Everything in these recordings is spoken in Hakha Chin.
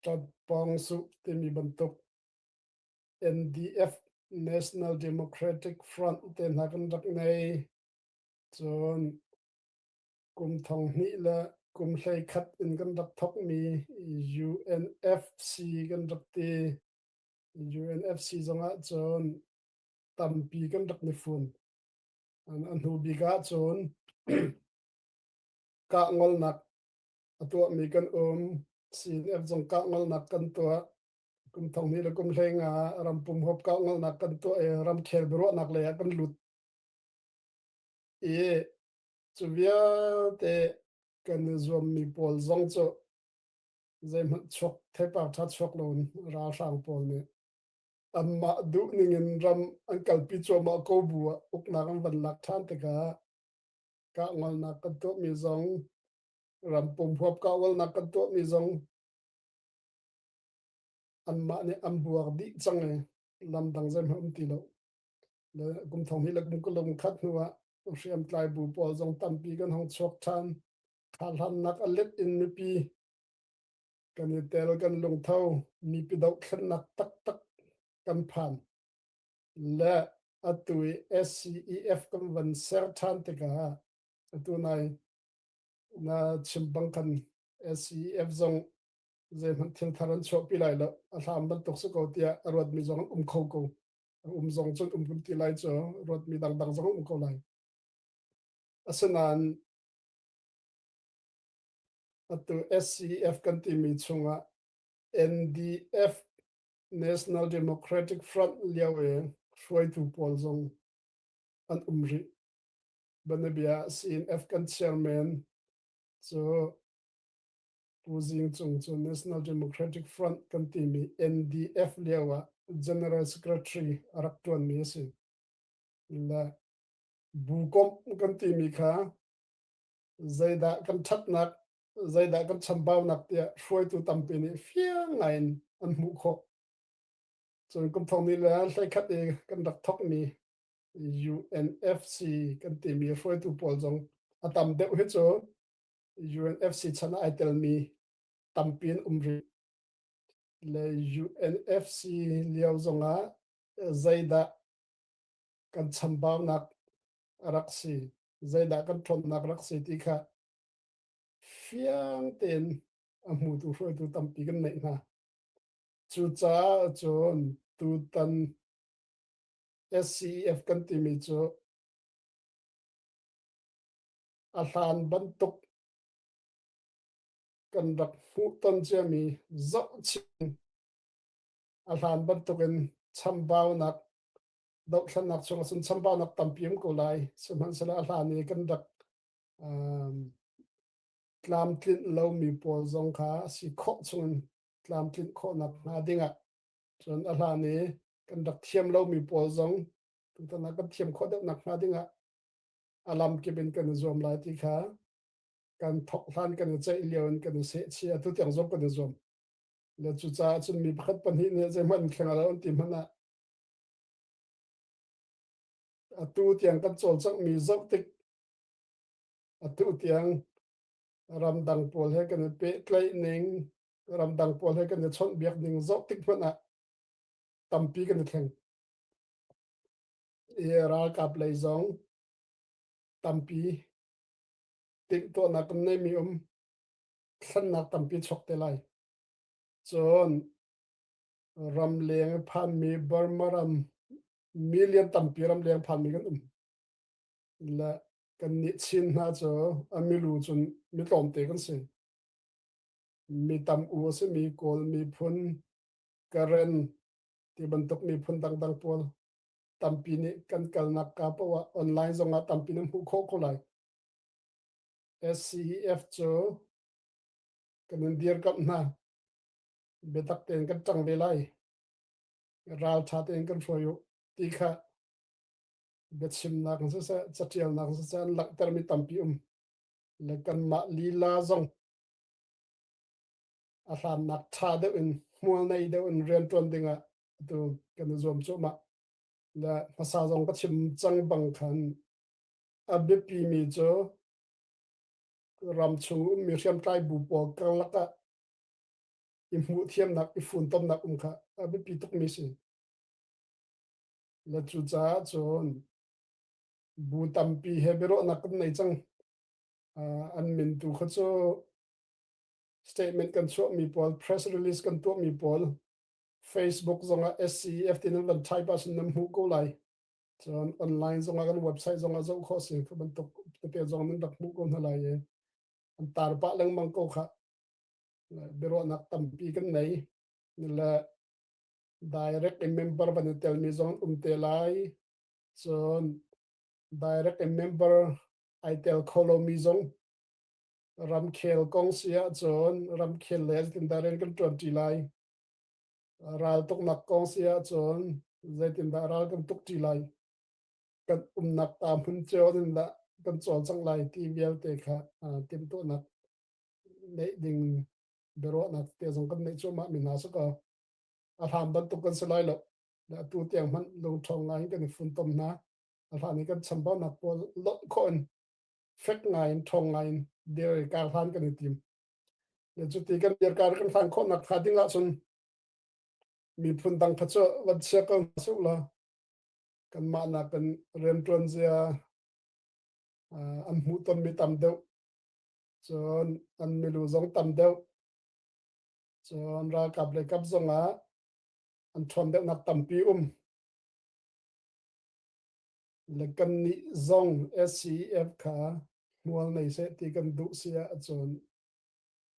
Ṭampawng Suk timi bantuk NDF National Democratic Front te hna kan rak nei. Cun Kum thong hnih le kum hlei khat in kan rak thokmi UNFC kan rak ti. UNFC zongah cun tampi kan rak ni fun. A hnu bik ah cun kah ngolnak a tuahmi kan um. CNF zong kah ngolnak kan tuah. Kum thong hnih le kum hlei nga rampum hop kah ngolnak kan tuah i ramkhel biaruahnak lei ah kan lut. I Cu vialte kan i zuammi pawl zong cu zeihmanh chuak theipar ṭha chuak loin ralhrang pawl nih anmah duhning in ram an kalpi cuahmah ko bu ah uknak an van lak ṭhan tikah kah ngolnak kan tuahmi zong ram pum huap kah ngolnak kan tuahmi zong anmah nih an buak dih cang i lam dang zeihmanh um ti lo. kum thong hi lakbung ka lung khat hnuah hriam tlai bu pawl zong tampi kan hong chuak than kha hlan nak alet in mipi kan i tel kan lungtho mi pi do thlen nak tak tak kan phan le atu SCEF kan van ser than te ka atu nai na chim bang kan SCEF zong zei hman thil thar an chuah pi lai lo a thlam ban tuk su ko tia a ruat mi zong um kho ko um zong cun um kan ti lai cu ruatmi dangdang zong um ko lai asinain atu SCF kan timi chungah NDF National Democratic Front lio e hruaitu pawl zong an um ri banabia sin F kan chairman so Pu Zing Cung cu National Democratic Front kan timi NDF lio ah General Secretary a rak ṭuanmi a si. Le bukomh kan timi kha zeidah kan ṭhatnak, zeidah kan chambaunak tiah hruaitu tampi nih fiang ngaiin an hmuh khawh. Cun kum thong ni le hleikhat i kan rak thokmi UNFC kan timi hruaitu pawl zong a tam deuh hi cu UNFC chan ah ai telmi tampi an um rih. Le UNFC lio zongah zeidah kan chambaunak rak si zeidah kan thlonnak rak si ti kha fiang tein a hmutu hruaitu tampi kan neih hna. Cucaah cun tutan SCEF kan timi cu a hlan bantuk kan rak hmuh ton ciami zohchin a hlan bantukin chambaunak dohthlannak chungah cun chambaunak tampi um ko lai sihmanhsehlaw a hlan i kan rak tlamtlinh lomi pawl zong kha si khawh chungin tlamtlinh khawhnak hnga dingah cun a hlan i kan rak thiam lomi pawl zong tutan kan thiam khawh deuh nak hnga dingah a lamkip in kan i zuam lai ti kha kan thok hlan kan i ceih lio in kan i seh chia tu tiang zong kan i zuam le cucaah cun mi pakhat pahnih nih zeihmanh thleng lo an ti hmanh ah atu tiang kan cawlcanghmi zoh tik atu tiang ramdang pawl he kan i pehtlaih ning ramdang pawl he kan i chawnhbiak ning zoh tik hmanh ah tampi kan i thleng i ralkap lei zong tampi timhtuahnak nei mi um thlannak tampi chok te lai cun ram leng phan mi Burma ram million tampi ram leng phan mi kan um la kan ni chin hna cu a milu cun mi tlawm te kan si mi tam u si mi kawl mi phun karen ti bantuk mi phun dangdang pawl tampi nih kan kalnak kaa poah ah online zong ah tampi na hmuh khawh ko lai. SCEF cu kan in dirkamh hna. Biatak tein kan ṭang ve lai. Ralṭha tein kan hruai u ti kha biachimnak siseh catialnak siseh an langhtermi tampi um le kanmah lila zong a hlannak ṭha deuh in hmualnei deuh in rian ṭuan dingah tu kan zuam cu ma da hmasa zong ka chim cang bang khan a biapi mi cu ram chung mi hriamtlai bu pawl karlak ah i hmuh thiamnak i funtomnak um kha a biapi tuk mi si la cu caah cun bu tampi he biaruahnak kan nei cang an min tu kha cu statement kan chuah mi pawl press release kan tuah mi pawl Facebook zongah SCEF tinak van type ah sun nan hmuh ko lai. Cun online zongah kan website zongah zoh khawh si thu bantuk te zong nan rak hmuh ko hna lai e. An tar pa lengmang ko kha. Biaruahnak tampi kan nei. Le direct member van i tel mi zong um te lai. Cun direct member ai tel kholo mi zong ramkhel kong sia cun ramkhel le tin daren kan tuan ti lai Raltuknak kong si ahcun zeitindah ral kan tuk ṭi lai? Kan umnak ta hmun cio in dah kan cawlcang lai ti vialte kha timhtuahnak neih ding biaruahnak te zong kan neih cuahmah mi hna si kaw a hlan bantuk kan si lai lo. Atu tiang hmanh lungṭho ngai in kan i funtom hna. A hlan i kan chambaunak pawl lonh khawh in fek ngai in, ṭhawng ngai in, dare kar hlan kan i tim. Cuti kan dirkar kan fan khawhnak kha ding ahcun miphun dang kha cu van chia ko hna suk la kan mah nak kan riantuan zia an hmuh ton mi tam deuh cun an milu zong tam deuh cun ralkap le kap zong ah an ṭhawn deuhnak tampi um na kannih zong SCF kha hmual nei seh ti kan duh si ahcun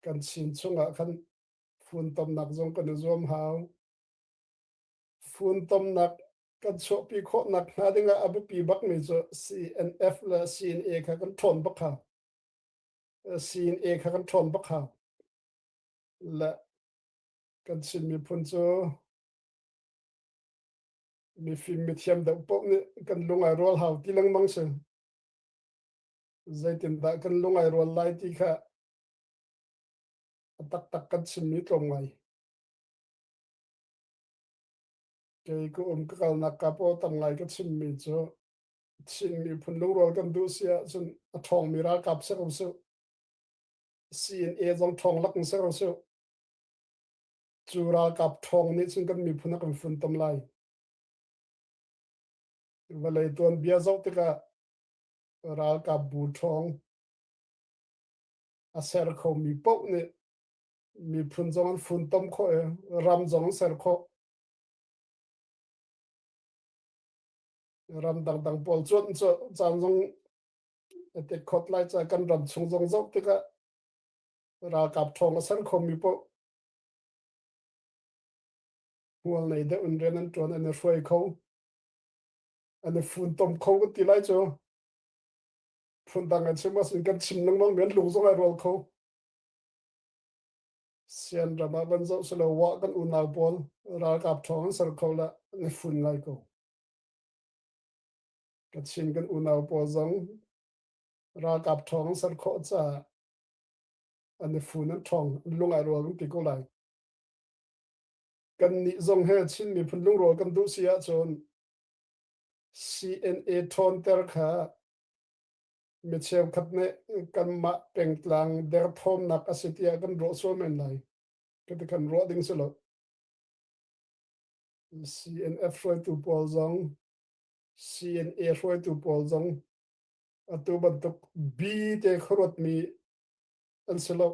kan chin chungah khan funtomnak zong kan i zuam hau. Funtomnak kan chuahpi khawh nak hnga dingah a biapi bakmi cu CNF le CNA kha kan ṭhawn bak ha. CNA kha kan ṭhawn bak ha. Le kan Chin miphun cu mi fim mi thiam deuh poh nih kan lung ai rual hau ti lengmang si zeitindah kan lung ai rual lai ti kha taktak kan chimmi tlawm ngai kei ka um ka kalnak ka po tang ngai ka chimmi cu Chin miphun lungrual kan duh si ahcun a ṭhawngmi ralkap ser u su CNA zong ṭhawng lak ser u su Cu ralkap ṭhawng nih cun kan miphun a kan funtom lai. Vawlei tuanbia zoh tikah ralkap bu ṭhawng a ser khomi paoh nih miphun zong an funtom khawh i ram zong an ser khawh. Ram dangdang pawl cuan cu caan zong a tek khot lai ca kan ram chung zong zoh tikah ralkap ṭhawng a ser khomi paoh Hual nei deuh in rian an ṭuan an i hruai kho. An i funtom kho kan ti lai cu. Phundang an chim mas in kan chim lengmang mi an lung zong ai rual kho. Sian ram ah van zoh silo wa kan unau pawl ralkap thawng an ser kho la an i fun lai ko. Kachin kan unau pawl zong ralkap thawng an ser khawh caah an i fu nan ṭhawng an lungai rual kan ti ko lai kan nih zong he Chin miphun lungrual kan duh si ahcun CNA ṭhawnter kha mi cheukhat nih kanmah pengtlang derthawmnak a si tiah kan ruah sual men lai ka ti kan ruah ding si lo CNF hruaitu pawl zong CNA hruaitu pawl zong atu bantuk bi te khuaruat mi an si lo.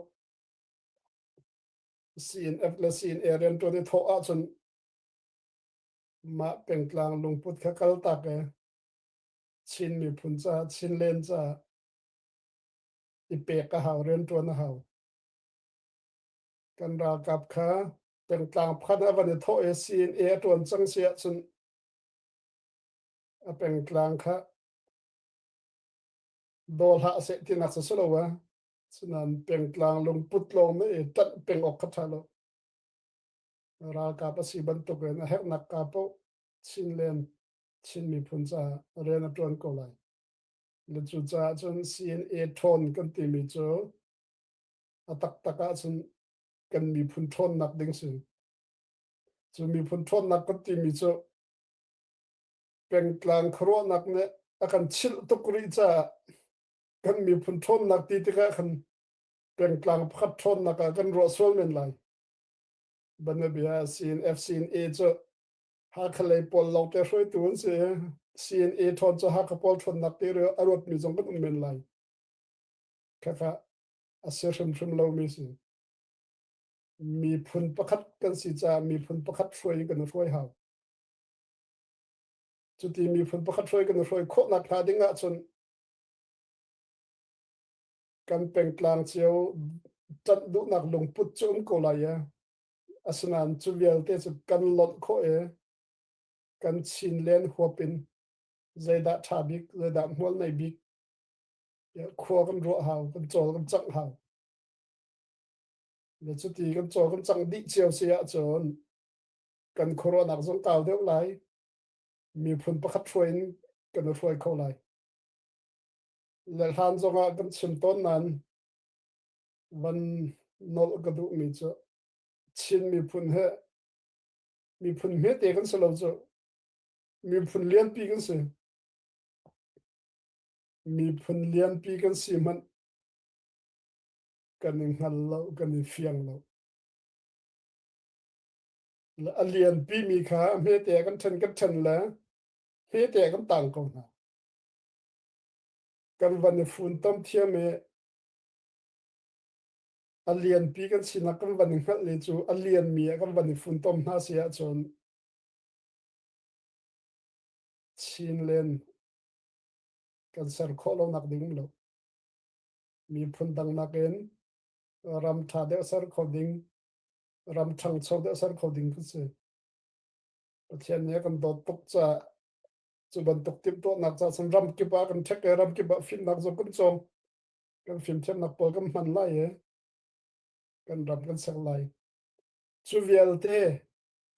CNF le CNA rian ṭuan i thawh ahcun mah pengtlang lungput kha kal tak i Chin miphun caah Chin len caah i pek a hau rian ṭuan a hau. Kan ralkap kha pengtlang pakhat a van i thawh i CNA a ṭuan cang si ahcun a pengtlang kha daw hlah seh tinak sa silo wa sunan pengtlang lungput long me tat peng ok kha tha lo ralkap asi bantuk in a hernak ka po chin len chin mi phun ca ren a tuan ko lai le cu ca cun CNA thawn kan ti mi cu a tak tak ah cun kan mi phun thawn nak ding sin cu mi phun thawn nak kan ti mi cu pengtlang khuaruahnak nih a kan chilh tuk rih caah kan miphun ṭhawnnak ti tikah khan pengtlang pakhat ṭhawnnak ah kan ruah sual men lai. Banabia CNF CNA cu Hakha lei pawl lawngte hruaitu an si. CNA ṭhawn cu Hakha pawl ṭhawnnak ti a ruatmi zong kan um men lai. Khaka a si hrimhrim lomi si. Miphun pakhat kan si caah miphun pakhat hruai in kan hruai hau. Cuti miphun pakhat hruai kan i hruai khawhnak hnga ding ahcun kan pengtlang cio ṭanh duhnak lungput cu um ko lai i asinain cu vialte cu kan lonh khawh i kan chin len huap in zeidah ṭha bik zeidah hmual nei bik khua kan ruah hau kan cawl kan cangh hau le cuti kan cawl kan cangh dih cio si ahcun kan khuaruahnak zong kau deuh lai. Miphun pakhat hruai in kan i hruai kho lai. Le hlan zong ah kan chim tawn nan van nol ka duhmi cu Chin miphun he miphun hmete kan si lo cu miphun lianpi kan si miphun lianpi kan si hmanh kan i hngal lo kan i fiang lo a lianpi mi kha hmete kan ṭhen kan ṭhen le hmete kan tang ko hna. Kan van i funtom thiam i a lianpi kan sinak kan van i hngalh le cu a lian mi ah kan van i funtom hna si ahcun chin len kan ser khawh lo nak ding lo mi phun dang nakin ram ṭha deuh ser kho ding ram ṭhangcho te a ser kho ding kan si. Pathian nih a kan dawt tuk ca cu bantuk timhtuahnak ca san ram kip ah kan ṭhek i ram kip ah fimnak zo kan cawm kan fimthiamnak pawl kan hman lai i kan ram kan ser lai cu vialte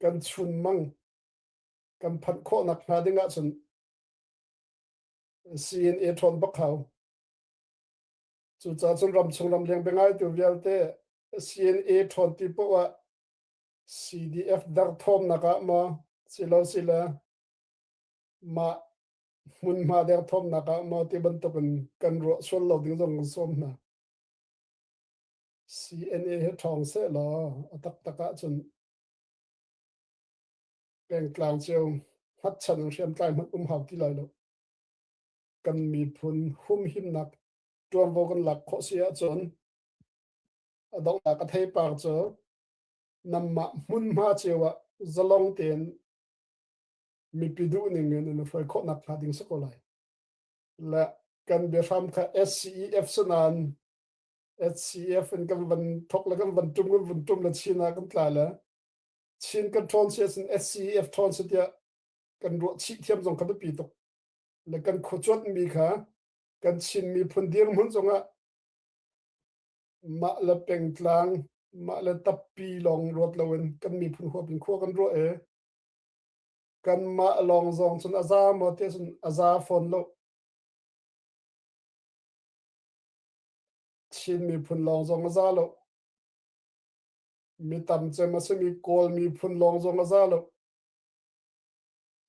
kan chun mang kan phanh khawhnak hnga ding ahcun siin e ṭhawn bak hau cucaah cun ram chung ram leng biangai tu vialte CNA ṭhawnti poh ah CDF derthawmnak ah maw silosile mah hmunhma derthawmnak ah maw ti bantukin kan ruah sual lo ding zong kan sawm hna. CNA he ṭhawng seh law a taktak ahcun pengtlang cio hatchan ang hriamtlai hmanh um hau ti lai lo. Kan miphun humhimnak tuanvo kan lak khawh si ahcun A donghnak a theipar cu nanmah hmunhma cio ah zalong tein mipi duh ning in na hruai khawh nakhnga ding si ko lai. Le kan biahram kha SCEF si nain SCEF in kan van thok le kan van tum kan van tum le chin ah kan tla le chin kan ṭhawn si asin SCEF ṭhawn si tiah kan ruah chih thiam zong kha biapi tuk le kan khuacuanh mi kha kan chin miphun dirhmun zongah Mah le pengtlang, mah le tappi lawng ruat loin kan miphun huap in khua kan ruah e. Kanmah lawng zong cun a za maw te cun a za fawn lo. Chin miphun lawng zong a za lo. Mi tam cem a simi Kawl miphun lawng zong a za lo.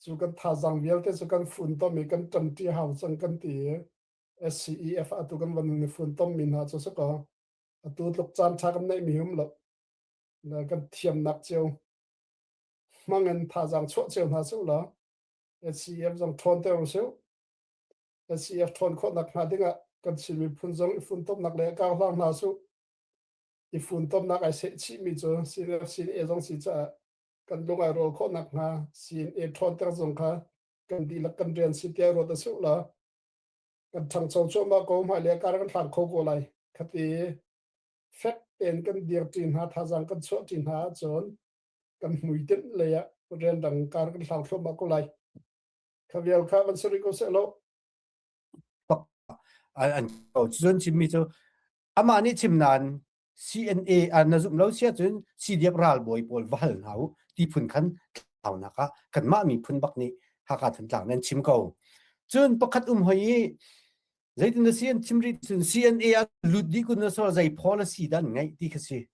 Cu kan thazang vialte cu kan fun tom i kan ṭamṭi hau cang kan ti i. SCEF atu kan van ni funtom mi hna cu suka atu tluk caan tha kan nei mi hum lo na kan thiam nak cio mangen tha jang chuah cio hna su la SCEF zong ṭhawn ter su SCEF ṭhawn khawt nak hna dingah kan sin mi phun zong i funtom nak le ka hlang hna su i funtom nak ai se chi mi cu CNF CNA zong si cha kan lung ai rol khawt nak hna CNA ṭhawn ter zong kha kan di lak kan rian si te ro ta su la kan ṭhangcho cuahmah ko hmai le kar kan hlang kho ko lai khati fek tein kan dir ṭi hna thazang kan chuah ṭi hna ahcun kan hmui tinh lei ah rian dang kar kan hlang thluahmah ko lai kha vial kha van sari ko seh lo an ko cun cimmi cu amah nih chim nan CNA an na zumh lo si ahcun CDF ralbawi pawl va hal hna u ti phun khan tlaunak ah kanmah miphun bak nih Hakha Thantlang nan chim ko. Cun pakhat um hoi i zeitin na si an chim rih cun CNA ah lut dih kun na sor zei policy dah an ngeih ti kha si.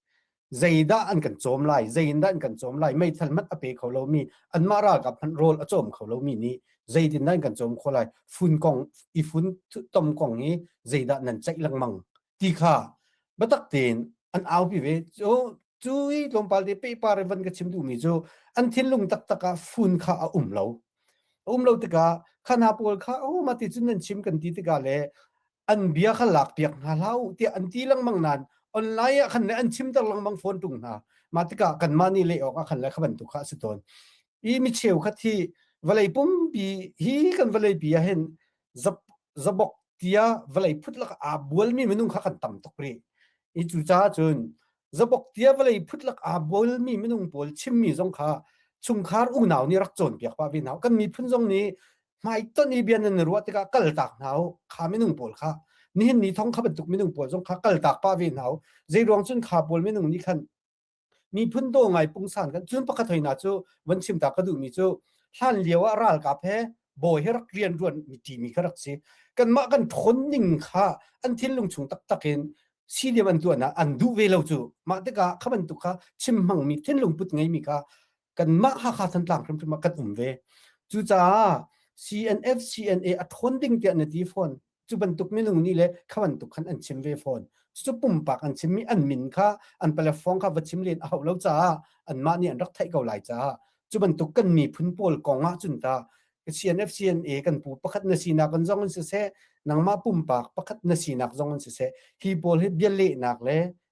Zeidah an kan cawm lai, zeidah an kan cawm lai, meithal mat a pe kho lomi, anmah ralkap hmanh rawl a cawm kho lomi nih zeitin nan kan cawm kho lai, fun kong, i fun tom kong hi zeidah nan ceih lengmang ti kha biatak tein an aupi ve cu cu i tlawmpal te pepa revan ka chim duhmi cu an thinlung taktak ah fun kha a um lo a um lo tikah khana pawl kha o ma ti cun nan chim kan ti tikah le an bia kha lak piak hna hlau tiah an ti lengmang nan online ah khan le an chimter lengmang phone tung hna ma tikah kan mah ni le awk ah khan le kha bantuk kha a si tawn i mi cheu kha thi vawlei pumpi hi kan vawlei pi ah hin zabok tia vale phut lak a bualmi minung kha kan tam tuk ri i cu caah cun zabok tia vale phut lak a bualmi minung pawl chimmi zong kha chungkhar unau nih rak cawn piak pa vi hna kan miphun zong nih hmai ton i bian nan ruah tikah kal tak hna kha minung pawl kha nihin ni thong kha bantuk minung pawl zong kha kal tak pa ve hna zei ruang cun kha pawl minung nih khan miphun do ngai pungsan kan cun pakhat hoina cu van chim ta ka duh mi cu hlan lio ah ralkap he bawi he rak rian ruan mi ti mi kha rak si kan mah kan thon ning kha an thinlung chung tak takin sidiam an tuan an duh ve lo cu mah tikah kha bantuk kha chim hmang mi thinlung put ngei mi kha kanmah Hakha Thantlang hrimhrim ah kan um ve. Cucaah CNF CNA a ṭhawn ding tiah na ti fawn. Cu bantuk minung nih le kha bantuk khan an chim ve fawn. Cucu pumpak an chimmi an min kha an platform kha va chim len a hauh lo caah anmah nih an rak theih ko lai caah cu bantuk kan miphun pawl kong ahcun ta CNF CNA kan pu pakhat na sinak kan zong in siseh nangmah pumpak pakhat na sinak zong in siseh hi pawl hi bia lehnak le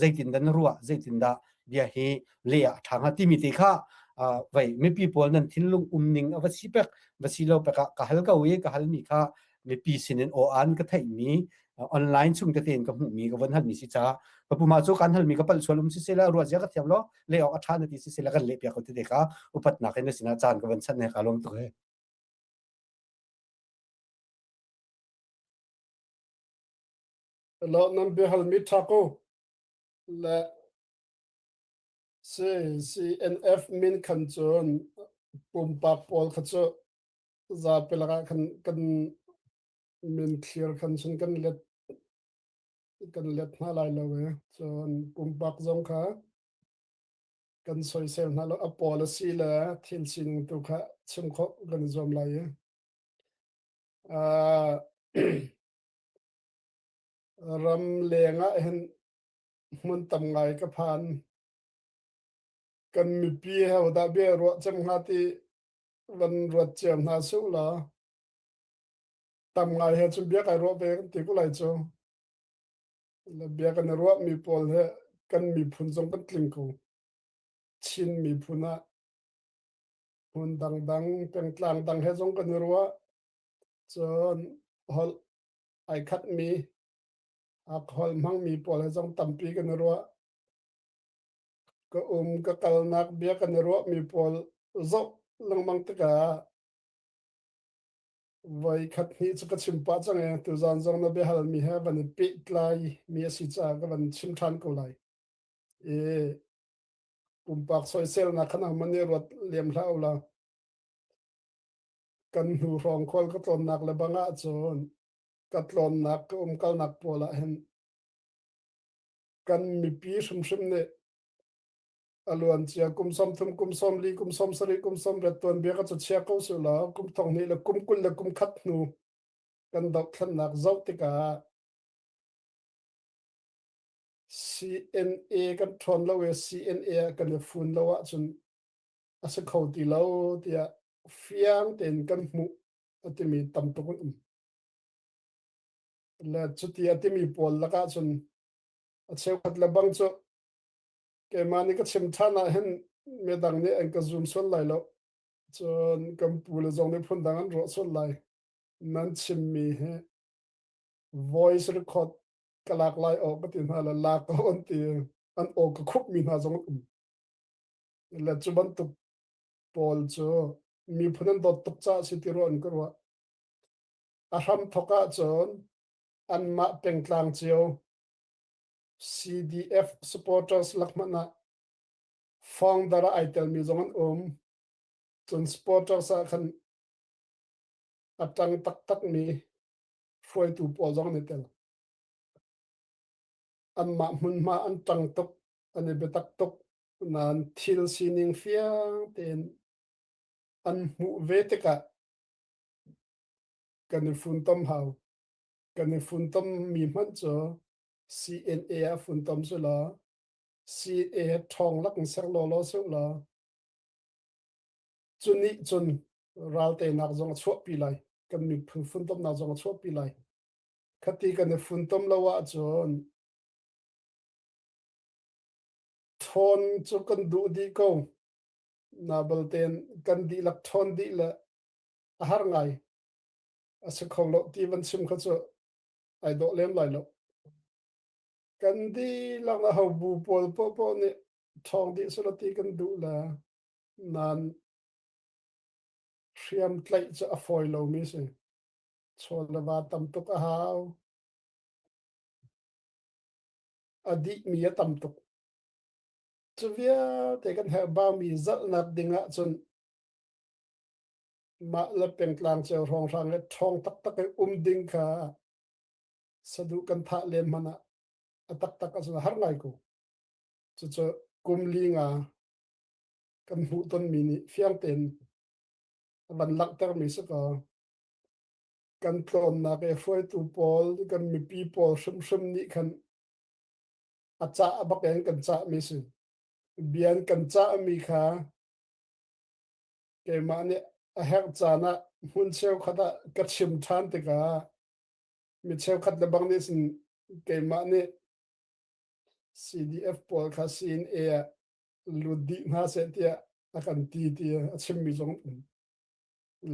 zeitindah na ruah zeitindah bia hi le a ṭha hnga timi te kha vei mipi pawl nan thinlung um ning a va si pek va si lo pek ah ka hal ko i ka hal mi kha mipi sin in aw an ka theihmi online chung te tein ka hmuhmi ka von hal mi si ca ka puma cu kan hal mi ka pal sual um si sela ruah zia ka thiam lo le ok a ṭha na ti si sela kan le piak ko te ka upat nak in na sinah caan ka von chan ne ka lom tuk he lo nan biahal mi thako le CNF min khan cun pumpak pawl kha cu zapi lakah khan kan min clear khan sun kan let kan let hna lai lo e cun pumpak zong kha kan soisel hna lo a pawl a si le thil sining tu kha chim kho kan zuam lai e. Uh, Ram leng ah hin hmun tam ngai ka phan. Kan mipi he hodah bia ruah cem hnga ti van ruat cia hna su la. Tam ngai he cun bia kai ruah ve kan ti ku lai cu. La bia kan i ruah mi pawl he kan miphun zong kan tling ko. Chin miphun ah hmun dangdang, pengtlang dang he zong kan i ruah. Cun holh ai khatmi alcohol hmangmi pawl he zong tampi kan i ruah. Ka um, ka kalnak, bia kan i ruahmi pawl zoh lengmang tikah voi khat hnih cu ka chim pah cang e, tuzan zong na biahalmi he van i pehtlai mi a si caah ka van chim ṭhan ko lai. E, pumpak soiselnak khanang man i ruat liam hlah u la. kan hnu hrawng khual ka tlawnnak le bang ah cun ka tlawnnak ka umkalnak pual ah hin kan mipi hrimhrim nih a luan cia kum som thum kum som li kum som sari kum som ret tuan bia ka cu chia ko su la kum thong ni le kum kul le kum khat hnu kan doh thlennak zoh tikah CNA kan ṭhawn lo i CNA kan i fun lo ahcun a si kho ti lo tiah fiang tein kan hmuh a timi tam tuk an um. Le cuti a timi pawl lakah cun a cheukhat le bang cu keimah nih ka chim ṭhan ah hin midang nih an ka zoom sual lai lo cun kan pu le zong nih phundang an ruah sual lai nan chimmi hi voice record ka lak lai awk ka ti hna le lak ko an ti an aw ka khupmi hna zong um le cu bantuk paul cu miphun an dawt tuk caah si ti rua an ka ruah a hram thok ah cun anmah pengtlang cio CDF supporters lakman ah founder ai telmi zong an um cun supporters ah khan a tang taktak mi hruaitu pawl zong ne tel anmah hmunhma an tang tuk an i biatak tuk Nain thil sining fiang tein an hmuh ve tikah kan i funtom hau. Kan i funtom mi hmanh cu CNA a funtom su law, CNA ṭhawng lak in ser law law su law, cu nih cun ralteinak zong a chuahpi lai. Kan miphun funtomnak zong a chuahpi lai. Khati kan i funtom lo ahcun ṭhawn cu kan duh dih ko. Na baltein kan dihlak ṭhawn dih le a har ngai. A si kho lo ti van chim kha cu ai dawh lem lai lo. Kan dihlak a ho bu pawl poahpoah nih ṭhawng dih sula ti kan duh le nan hriam tlaih cu a fawi lomi si. Chaw le va tam tuk a hau. a dihmi a tam tuk. Cu vialte kan herh baumi zalhnak ding ah cun mah le pengtlang cio hrawnghrang e ṭhawng taktak e um ding kha saduh kan thah len hmanh ah a taktak a har ngai ko. Cucu kum li nga kan hmuh tonmi nih fiang tein a van langhtermi si ko. kan tlawnnak i hruaitu pawl kan mipi pawl hrimhrim nih khan a cah bak in kan cah mi si bian kan cah mi kha keimah nih a herh caan ah hmun cheukhat ah ka chim ṭhan tikah mi cheukhat le bang nih sin keimah nih CDF pawl kha CNA ah lut dih hna seh tiah a kan ti ti a chimmi zong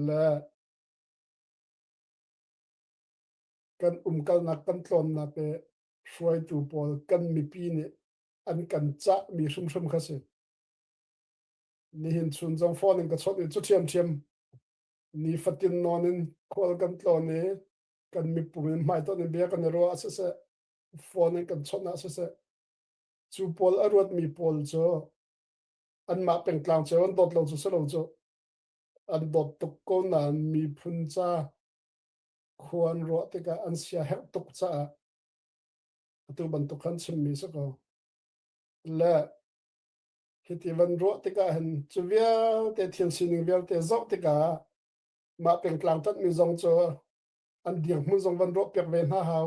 le kan umkalnak kan tlawnnak le hruaitu pawl kan mipi nih an kan cahmi hrimhrim kha si. Nihin chun zong phone in ka chawt i cu ṭhiamṭhiam ni fatin non in khual kan tlawn i kan mipum in hmaiton in bia kan i ruah siseh phone in kan chawnh siseh cu pawl a ruatmi pawl cu anmah pengtlang cu an dawt lo cu si lo cu an dawt tuk ko nain miphun ca khua an ruah tikah an siaherh tuk caah atu bantuk khan chimmi si ko le hiti van ruah tikah hin cu vialte thian sining vialte zoh tikah mah pengtlang tatmi zong cu an dirhmun zong van ruah piak ve hna hau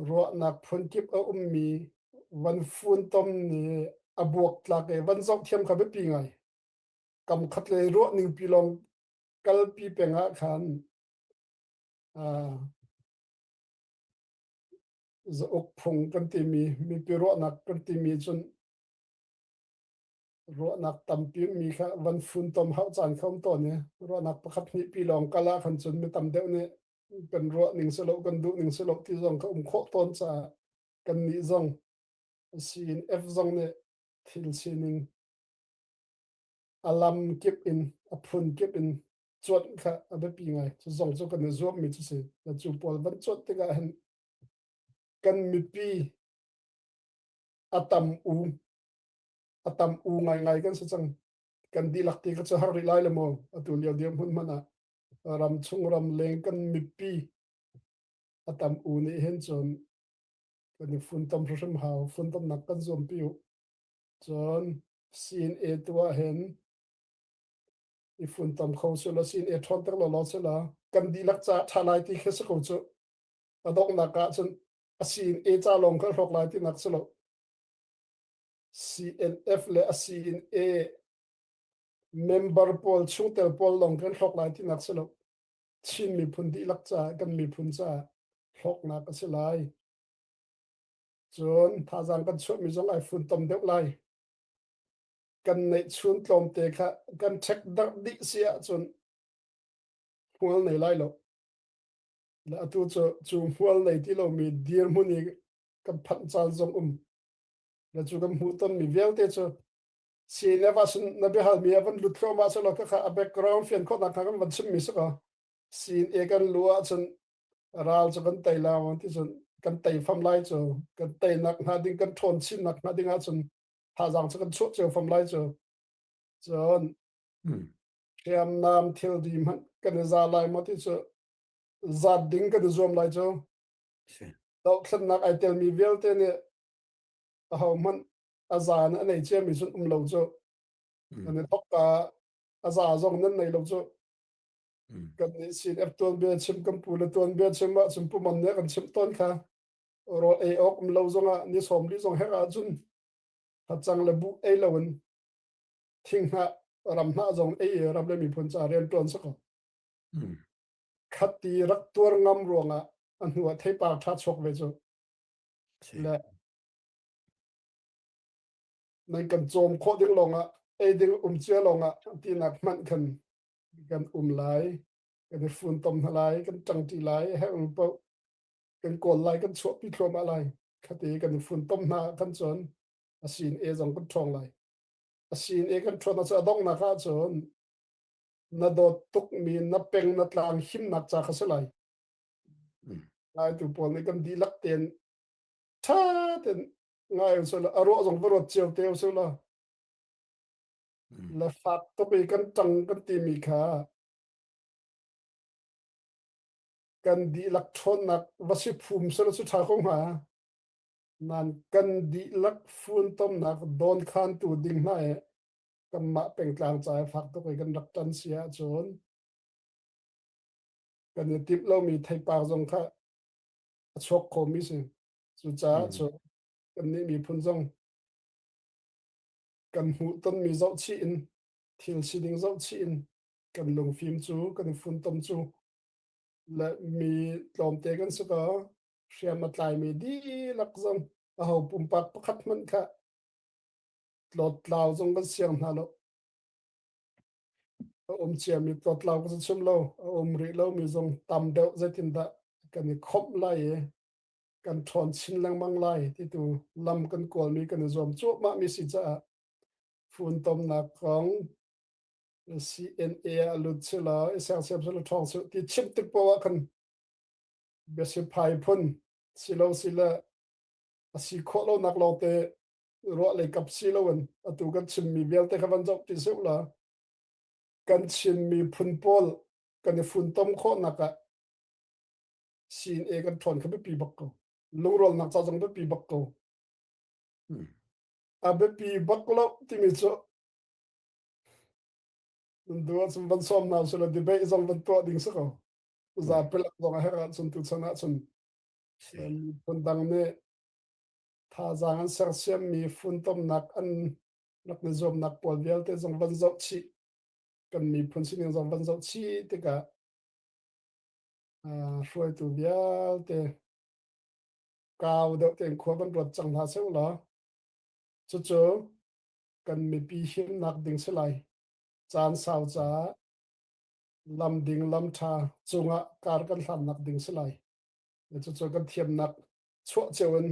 ruahnak phunkip a ummi van funtom nih a buak tlak i van zoh thiam kha biapi ngai kam khat le ruah ning pi lawng kalpi peng ah khan zauk phung kan timi mipi ruahnak kan timi cun ruahnak tampi mi kha van fun tom hau caan kha um ton i ruahnak pakhat hnih pi lawng kala khan cun mi tam deuh nih kan ruah ning si lo kan duh ning si lo ti zong ka um khawh tawn caah kan nih zong sin F zong nih thil sining alam kip in a phun kip in cuat kha a biapi ngai cu zong cu kan i zuam mi cu si na cu pawl van cuat tikah hin kan mipi atam u atam u ngai ngai kan si cang kan dilak ti ka cu har ri lai le mo atu lio diam hun mana ramchung ramleng kan mipi a tam u nih hin cun kan i funtom hrim hau funtomnak kan zuam pi u cun CNA tu ah hin i funtom kho su la CNA ṭhawn tek lo lo su la kan dihlak ca ṭha lai ti khi si ko cu a donghnak ah cun a CNA ca lawng kan hlawk lai ti nak si lo CNF le a CNA member pawl chungtel pawl lawng kan hlawk lai tinak si lo Chin miphun dihlak caah kan miphun caah hlawknak a si lai cun thazaang kan chuahmi zong ai funtom deuh lai kan neih chun tlawmte kha kan ṭhek darh dih si ahcun hmual nei lai lo le atu cu cu hmual nei ti lomi dirhmun i kan phanh caan zong um le cu kan hmuh tonmi vialte cu CNF ah cun na biahal mi a van lut thluah ma selaw khakha a background fian khawh nak kha kan van chim mi saka sin e kan lu ah cun ral cu kan tei law ti cun kan tei fam lai cu kan tei nak hna ding kan ṭhawn chim nak hna ding ah cun thazang cu kan chuah cio fam lai cu cun hriam nam thil di hmanh kan za lai mo ti cu zat ding kan zuam lai cu doh thlen nak ai tel mi vialte nih ho hmanh a za in a nei ciami sun um lo cu kan i thok ka a za zong nan nei lo cu kan nih sin ep tuan bia chim kan pu le tuan bia chim ma chim pu man ne kan chim ton kha ro ei ok um lo zong a ni som li zong hek a jun ha chang le bu ei lo in thing ha ram na zong ei ram le mi phun cha rian tuan sako khat ti rak tuar ngam ruanga a hnu a thei pa tha chok ve chu le Nan kan cawm khawh ding lawngah eiding um cia lawngah tinak hmanh khan kan um lai kan i funtom hna lai kan ṭangṭi lai herung po kan kawl lai kan chuahpi thluamah lai khate kan i funtom hna kan cun asin e zong kan ṭhawng lai asin e kan ṭhawn cu adonghnak ah cun na dawt tukmi na peng na tlang himnak ca kha si lai lai tu pawl nih kan dihlak ten tha ten ngai so la aro zong va rot chiao te so la la fak to pe kan tang kan ti mi kha kan di lak thon nak va si phum so la su tha ko nga man kan di lak phun tom nak don khan tu ding na e kan ma peng tlang chai phak to kai kan rak tan sia chon kan tip lo mi thai pa zong kha a chuak khomi si. Cucaah cu kannih miphun zong kan hmuh tonmi zoh chih in thil si ding zoh chih in kan lungfim cu kan funtom cu le mi tlawmte kan si ko hriam a tlaimi dihlak zong a ho pumpak pakhat hmanh kha tlawt tlau zong kan siang hna lo a um ciami totlau ka chim lo a um rih lo mi zong tam deuh zeitin dah kan i khomh lai i kan ṭhawn chin lengmang lai ti tu lam kan kualmi kan i zuam cuahmah mi si caah funtomnak kong CNA a lut si la isang siam sila ṭhawng si ti chim tik po ah kan biasi phai phun si lo si le a si khawh lo nak lawng te ruahlei kap si loin atu kan chimmi vialte kha van zoh ti seh la kan chinmi phun pawl kan i funtom khawhnak ah sin e kan ṭhawn kha biapi bak ko lungrolnak ca zong biapi bak ko a biapi bak lo timi cu dua cun van sawm na sila debate zong van tuah ding si ko za pelak zong a herh ahcun tu chan ahcun phun dang nih thazaang an sersiammi funtomnak an rak ni zuamnak pawl vialte zong van zoh chih kan miphun sining zong van zoh chih tikah hruaitu vialte kau deuh tein khua van ruat cang hna seu law cucu kan mipi himnak ding si lai caan sau caah lam ding lam tha cungah kar kan hlannak ding si lai cucu kan thiamnak chuah cio in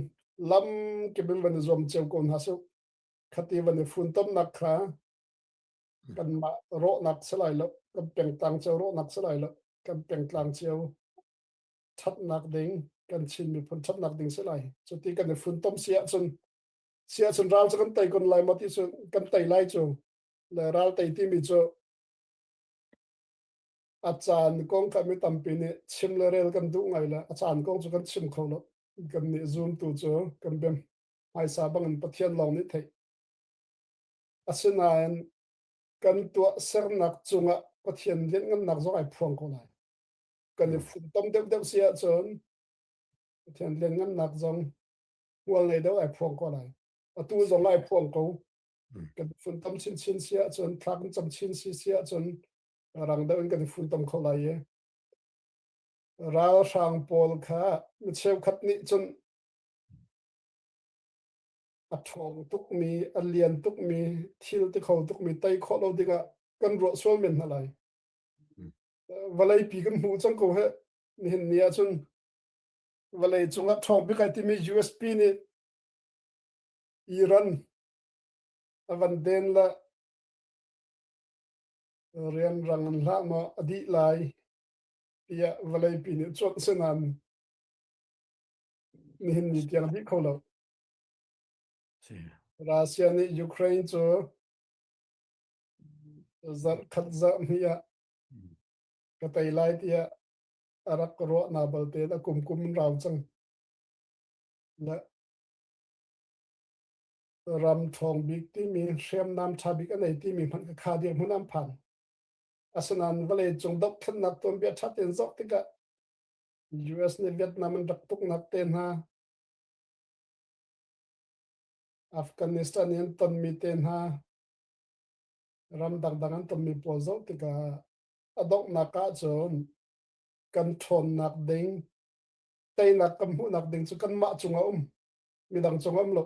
lam kebin van i zuam cio ko hna su khati van i fun tomnak kha kan mah rawhnak salai lo kan pengtang cio rawhnak salai lo kan pengtlang cio thatnak ding kan chin miphun thatnak ding si lai cu ti kan i fun tom sia chun sia chun ral chu kan tei kon lai mo ti chun kan tei lai chu le ral tei ti mi chu a caan kong kan mi tampi nih chim le rel kan duh ngai le a caan kong cu kan chim kho lo kan nih zoom tu cu kan bem hmaisa bangin pathian lawng nih theih asinain kan tuah sernak cungah pathian lianhngannak zong ai phuang ko lai kan i funtom deuh deuh si ahcun pathian lianhngannak zong hmual ngei deuh ai phuang ko lai atu zong ai phuang ko kan funtom chinchin si ahcun thlak cam chin si si ahcun rang deuh in kan funtom kho lai i ralhrang pawl kha mi cheukhat nih cun a ṭhawng tukmi a lian tukmi thil ti kho tukmi tei khawh lo dingah kan ruah sual men hna lai vawlei pi kan hmuh cang ko he nihin ni ahcun vawlei cungah ṭhawng pikai timi USP nih Iran a van den la Rianrang an hlah maw a dih lai tiah vawleipi nih cuanh si nain nihin ni tiang dih kho lo. Russia nih Ukraine cu zarh khat zarh hni ah ka tei lai tiah a rak ruah na balte a kum kum rau cang. Le ram ṭhawng bik timi hriamnam ṭha bik a nei timi hmanh ka kha dir hmun an phan asinain vawleicung dohthlennak tuanbia ṭha tein zoh tikah US nih Vietnam an rak tuknak te hna Afghanistan i an tonmi te hna ram dangdang an tonmi pawl zoh tikah a donghnak ahcun kan ṭhawnnak ding teinak kan hmuhnak ding cu kanmah cung a um midang cung am lo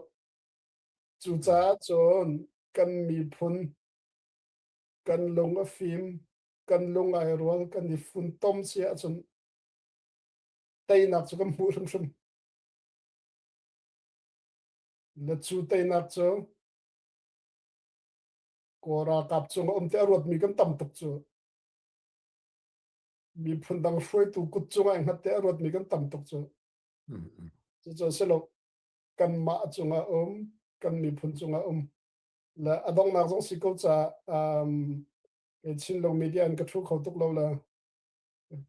cucaah cun kan miphun kan lung a fim kan lung ai ruang kan i funtom si ahcun teinak cu kan hmuh hrimhrim na cu teinak cu kora kap cung a um te a ruatmi kan tam tuk cu miphun dang hruaitu kut cung ai hngatte a ruatmi kan tam tuk cu cucu si lo kanmah cungah um kan miphun cungah um la a dongnak zong si ko ca um chin lo media an ka thu kho tuk lo la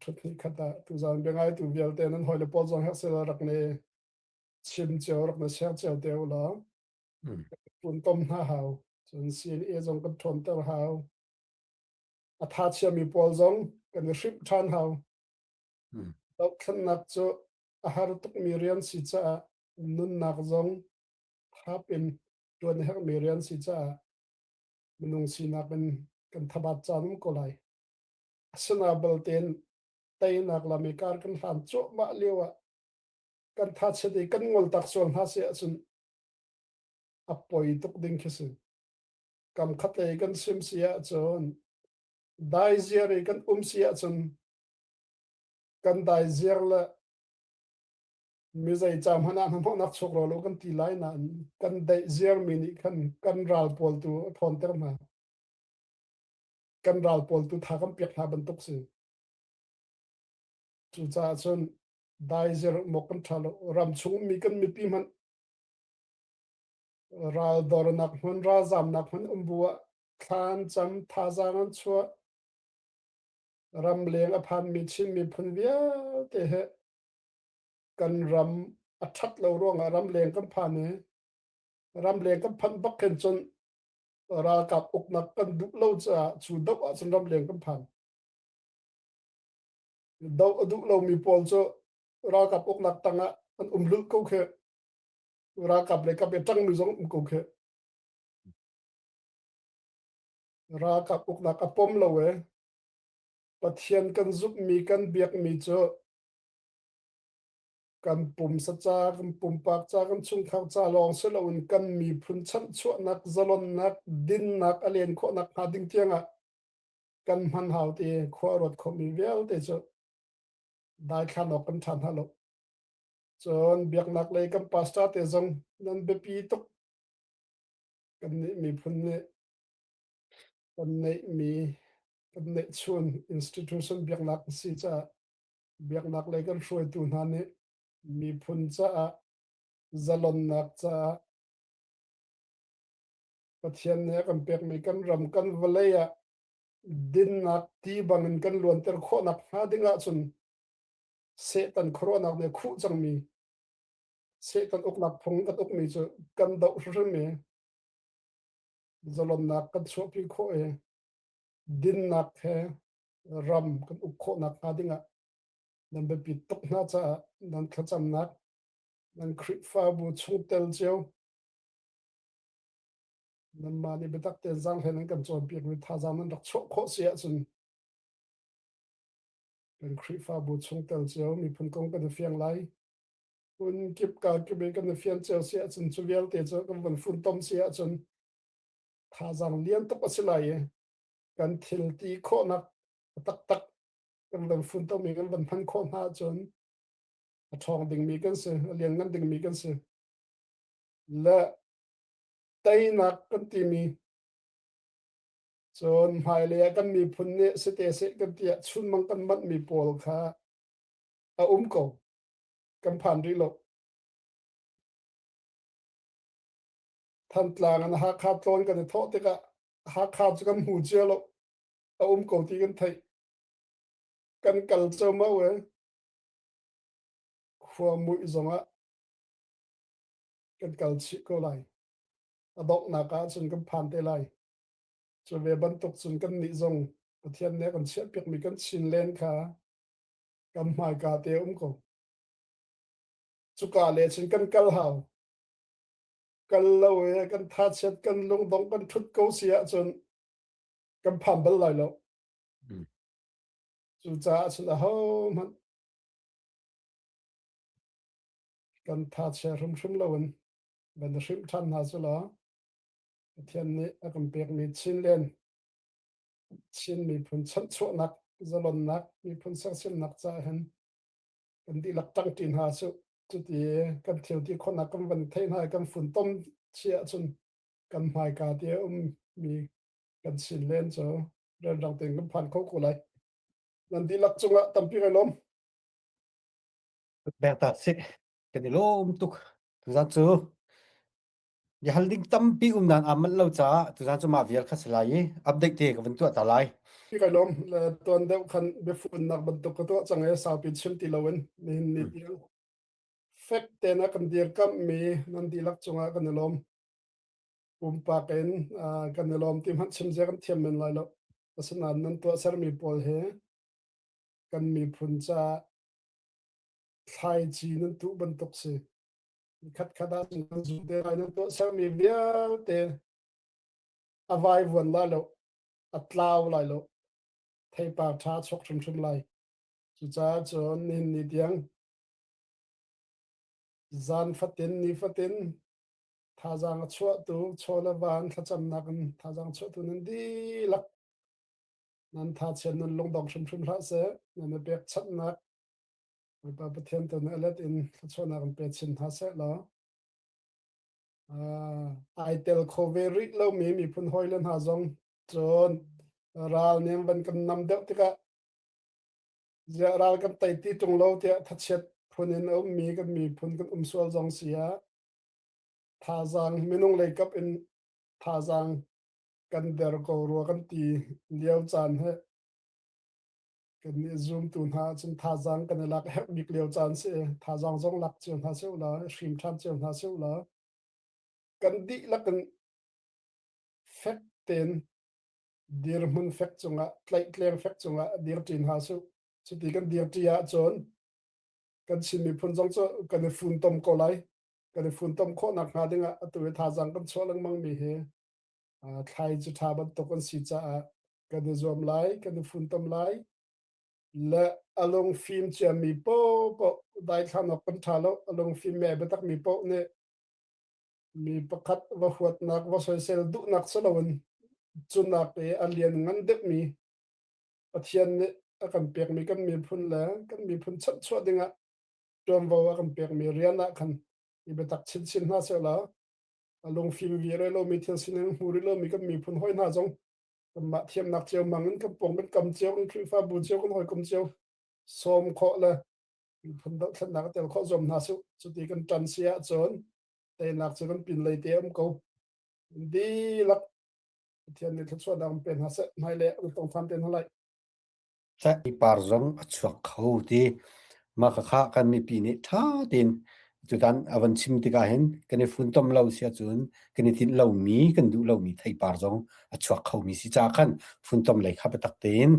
thut ni khata tu zan bengai tu vialte nan hoi le pol zong hak sela rak ne chim cheu rak na share cheu te la pun tom na hau cun CNA zong kan thon ter hau atha chia mi pol zong kan hrim than hau Dohthlennak cu a har tukmi rian si caah nunnak zong thap in ṭuan a herhmi rian si caah minung sinak in kan thabat canum ko lai. Asina baltein teinak lam i kar kan hlan cuahmah lio ah kan thachet i kan ngol tak sual hna si ahcun a poi tuk ding khi si. Kam khatlei kan sim si ahcun daiziar i kan um si ahcun kan dai ziar le mi zeica hmanh ah hnahnawhnak chuk rawl u kan ti lai nain kan deih ziarmi nih khan kan ral pawl tu a ṭhawnter hna kan ral pawl tu tha kan piak hna bantuk si cucaah cun dai ziar mok kan ṭha lo ram chung mi kan mipi hmanh ral dornak hmun ralzamnak hmun um bu ah thlan cam thazaang an chuah ramleng a phanmi Chin miphun vialte he kan ram a ṭhat lo ruangah ramleng kan phan i ramleng kan phanh bak khin cun ralkap uknak kan duh lo caah cu doh ahcun ramleng kan phan doh a duh lomi pawl cu ralkap uknak tangah an um lu ko khi ralkap le kap i ṭangmi zong um ko khi ralkap uknak a pom lo e Pathian kan zumhmi kan biakmi cu kan pumsa ca, kan pumpak ca, kan chungkhar ca lawng si loin kan miphun chanhchuahnak, zalonnak, dinnak a len khawhnak hnga ding tiangah kan hman hau ti khua a ruat khomi vialte cu daithlan awk kan ṭhan hna lo. Cun biaknak lei kan pastor te zong nan biapi tuk. Kan nih miphun nih kan neihmi kan neihchuan institution biaknak si caah biaknak lei kan hruaitu hna nih miphun caah zalonnak caah pathian nih a kan pekmi kan ram kan vawlei ah dinnak ti bangin kan luanter khawhnak hnga ding ahcun setan khuaruahnak nih a khuh cangmi setan uknak phung kan ukmi cu kan doh hrimhrim i zalonnak kan chuahpi khawh i dinnak he ram kan uk khawhnak hnga dingah nan biapi tuk hna caah nan thlacamnak nan Khrihfabu chungtel cio nan mah nih biatak te zang hlen an kan cawnpiak mi thazaang nan rak chuah khawh si ahcun kan Khrihfabu chungtel cio miphun kong kan i fiang lai Cun kip ka kip i kan i fian cio si ahcun cu vialte cu kan van funtom si ahcun thazaang lian tuk a si lai i kan thil ti khawhnak taktak kan van funtom i kan van hman khawh hna ahcun a ṭhawng dingmi kan si, a lianngan dingmi kan si. Le teinak kan timi cun hmailei ah kan miphun nih si te seh kan tiah chunmang kan manhmi pawl kha a um ko. kan phan rih lo. Thantlang in Hakha tlawn kan i thawh tikah Hakha cu kan hmu cia lo. A um ko ti kan theih. Kan kal co mau e. Khua muih zongah kan kal chih ko lai. A donghnak ah cun kan phan te lai. Cu ve bantuk cun kan nih zong Pathian nih a kan chiah piakmi kan chin len kha kan hmaika te um ko cuka le cun kan kal hau kal lo e kan tha chiat kan lungdong kan thut ko si ahcun kan pham bal lai lo cu caah cun a ho hmanh kan tha chia hrimhrim lo in ban hrim than hna cu la Pathian nih a kan pekmi chin len Chin miphun chanhchuahnak zalonnak miphun sersiamnak caah hin kan dihlak ṭangṭi hna cu cuti kan thil ti khawhnak kan van theih hna i kan funtom si ahcun kan hmaika ti a ummi kan sin len cu renrang tein kan phan kho ko lai. Nan dihlak cungah tampi kan lawm. Bek ta si. Kan i lawm tuk. Zat cu Biahal ding tampi umnak aa manh lo caah tuzaan cu mah vial kha si lai i update te ka vun tuah ta lai. ka lom tuan deuh khan biafunnak bantuk ka tuah cang i saupi chim ti loin nihin ni tiang fek ten a kan dir kamh mi nan dihlak cungah kan i lom pumpak in kan i lom ti hmanh chim zia kan thiam men lai lo asinain nan tuah sermi pawl he kan miphun ca thlaici nan tuh bantuk si khatkhat ah nan zum te lai nan tuah sermi vialte a vai vuan lai lo a tlau lai lo theipa tha chok hrimhrim lai cucaah cun nin ni tiang zan fatin ni fatin thazang a chuahtu chola van thlacamnak in thazang chuahtu nan dilak nan tha chian nan lungdong hrimhrim hlah se nan i pek chatnak Bawipa Pathian tu nih a let in thluachuahnak an pe chin hna seh law ai tel kho ve rih lomi miphun hawile hna zong cun ral nih van kan nam deuh tikah ziah ral kan tei ti tung lo tiah thachiat phun in a ummi kan miphun kan um sual zong si ah thazaang minung leikap in thazaang kan der ko rua kan ti lio caan he Kannih zumtu hna cun thazaang kan i lak a herh bik lio caan si. Thazaang zong lak cio hna seh la, hrim ṭhan cio hna seh la. Kan dihlak in fek tein dirhmun fek cungah tlaihtleng fek cungah dir ṭin hna seh. Cuti kan dir ṭi ahcun kan Chin miphun zong cu kan i funtom ko lai. Kan i funtom khawh nak hnga dingah atu i thazaang kan chuah lengmang mi hi thlai cu ṭha bantuk an si caah kan i zuam lai, kan i funtom lai. Le a lung fim ciami popoh daithlan awk kan ṭha lo. A lung fim me biatak mi poh nih mi pakhat va huatnak va soisel duhnak si loin cunak i a lian ngan deuhmi Pathian nih a kan pekmi kan miphun le kan miphun chanhchuah dingah ṭuanvo a kan pekmi rian ah khan i biatak chinchin hna seh law a lungfing vi re lo mi thil sining hmu ri lo mi kan miphun hoi hna zong kanmah thiamnak cio mang in kan pong kan kam cio kan khrihfa bu cio kan hoi kum cio som kho le miphun dothlatnak a tel kho zom hna su cuti kan tan si ah cun teinak cu kan pin lei te am ko di lak pathian nih thluachuah dang pe hna se mai le tong than ten halai tlaih ipar zong a chuak kho ti. Mah khakha kan mipi nih ṭha tein tutan a van chim tikah hin kan i funtom lo si ahcun kan i tinh lomi, kan duh lomi theipar zong a chuak khomi si caah khan funtom lei kha biatak tein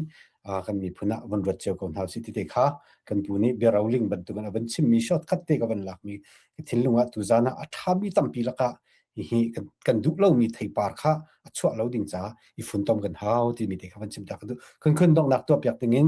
kan miphun ah van ruat cio ko hna usih tite kha kan pu nih biaroling bantukin a van chimmi shortcut te ka van lakmi ka thinlung ah tuzan ah a ṭhami tampi lakah hihi kan, kan duh lomi theipar kha a chuah lo ding ca i funtom kan hau timi te kha van chim ta ka duh kan khun donghnak tuah piak ding in